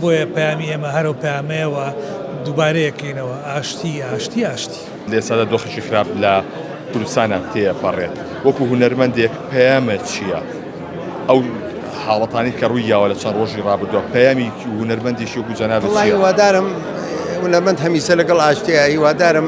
بۆیە پەیامی ئێمە هەر ئەو پەیامەیە و دووبارە یەکەینەوە، ئاشتی، ئاشتی، ئاشتی. لە ئێستادا دۆخێکی خراپ لە کوردستانا تێپەڕێت، وەکو هونەرمەندێک پەیامت چییە؟ ئەو حاڵەتانەی کە ڕووی یاوە لە چەند ڕۆژی ڕابردووە، پەیامی هونەرمەندێکی وەکو جەنابت چییە؟ وەڵاهی هیوادارم هونەرمەند هەمیشە لەگەڵ ئاشتییە، هیوادارم.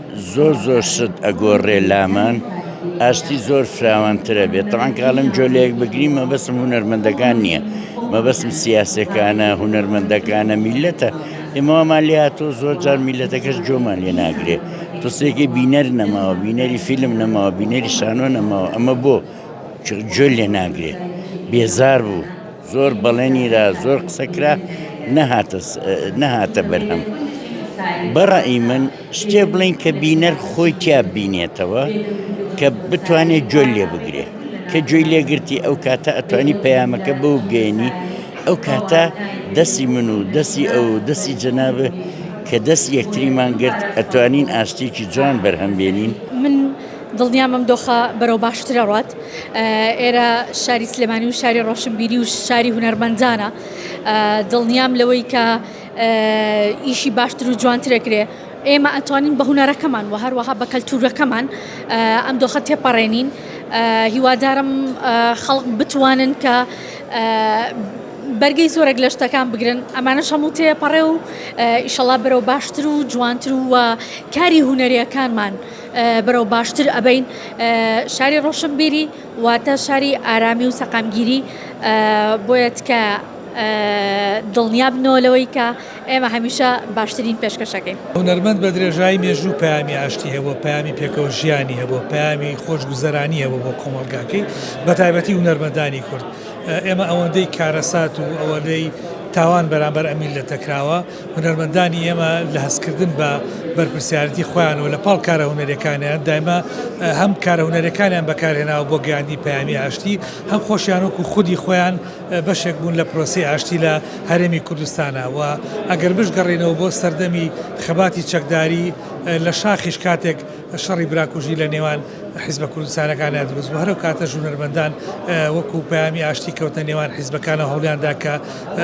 زۆر زۆر شت ئەگۆڕێ لامان ئاشتی زۆر فراوانترە بێت تەوان کاڵم جۆ لەیەک بگرین مەبەسم هونەرمەندەکان نییە مەبەسم سیاسەکانە هونەرمەندەکانە میلەتە ئێمەوامان لێ هاتۆ زۆر جار میلەتەکەش جۆمان لێ ناگرێ تۆسێکی بینەر نەماوە بینەری فیلم نەماوە بینەری شانۆ نەماوە ئەمە بۆ جۆ لێ ناگرێ بێزار بوو. زۆر بەڵێنی دا زۆر قسە کرا نەهاتە نەهاتە بەرهەم بەڕئی من شتێ بڵین کە بینەر خۆی تیا بینێتەوە کە بتوانێت جۆل لێ بگرێ کە جوێی لێگرتی ئەو کاتە ئەتوانی پەیامەکە بەو گەێنی ئەو کاتە دەستی من و دەستی ئەو دەستی جەنابە کە دەست یەکتریمان گرت ئەتوانین ئاشتێکی جوان بەرهەمبێنین من دڵنیام ئەم دۆخە بەرەو باشتر ئەڕوات، ئێرە شاری سلێمانی و شاری ڕۆشنبیری و شاری هونەرمەندانە، دڵنیام لەوەی کە ئیشی باشتر و جوانتر ئەکرێ، ئێمە ئەتوانین بە هونەرەکەمان و هەروەها بە کەلتورەکەمان ئەم دۆخە تێپەڕێنین، هیوادارم خەڵک بتوانن کە بەرگەی زۆرێک لە شتەکان بگرن ئەمانەش هەموو تێپەڕێ و ئیشەڵا بەرەو باشتر و جوانتر و کاری هونەریەکانمان. بەرەو باشتر ئەبەین شاری ڕۆشنبیری واتە شاری ئارامی و سەقامگیری بۆیە تکایە دڵنیا بنەوە لەوەی کە ئێمە هەمیشە باشترین پێشکەشەکەین. هونەرمەند بە درێژایی مێژوو پەیامی ئاشتی هەبووە، پەیامی پێکەوە ژیانی هەبووە، پەیامی خۆشگوزەرانی هەبووە بۆ کۆمەڵگاکەی بە تایبەتی هونەرمەندانی کورد. ئێمە ئەوەندەی کارەسات و ئەوەندەی تاوان بەرامبەر ئەم میللەتە کراوە، هونەرمەندانی ئێمە لە هەستکردن بە بەرپرسیارەتی خۆیان و لە پاڵ کارە هونەرەکانیان دایمە هەم کارە هونەرەکانیان بەکارهێناوە بۆ گەیاندنی پەیامی ئاشتی هەم خۆشیان وەکو خودی خۆیان بەشێک بوون لە پرۆسی ئاشتی لە هەرێمی کوردستانە و ئەگەر بشگەڕینەوە بۆ سەردەمی خەباتی چەکداری لە شاخیش کاتێک شەڕی براکوژی لە نێوان حیزبە کوردستانەکانە دروست بوو هەرو کاتەش هونەرمەندان وەکو پەیامی ئاشتی کەوتنە نێوان حیزبەکانە هەوڵیاندا کە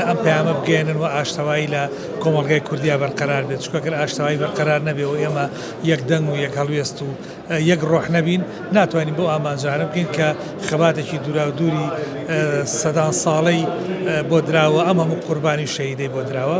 ئەم پەیامە بگەێنن و ئاشتەوایی لە کۆمەڵگای کوردیا بەرقەرار بێت چکەگەر ئاشتەوایی بەرقەرار نەبێ و ئێمە یەک دەنگ و یەک هەڵوێست و یەک ڕۆح نەبین ناتوانین بۆ ئامانجانە بکەین کە خەباتێکی دوراو دووری سەدان ساڵەی بۆ دراوە ئەم هەموو قوربانی شەیدەی بۆ دراوە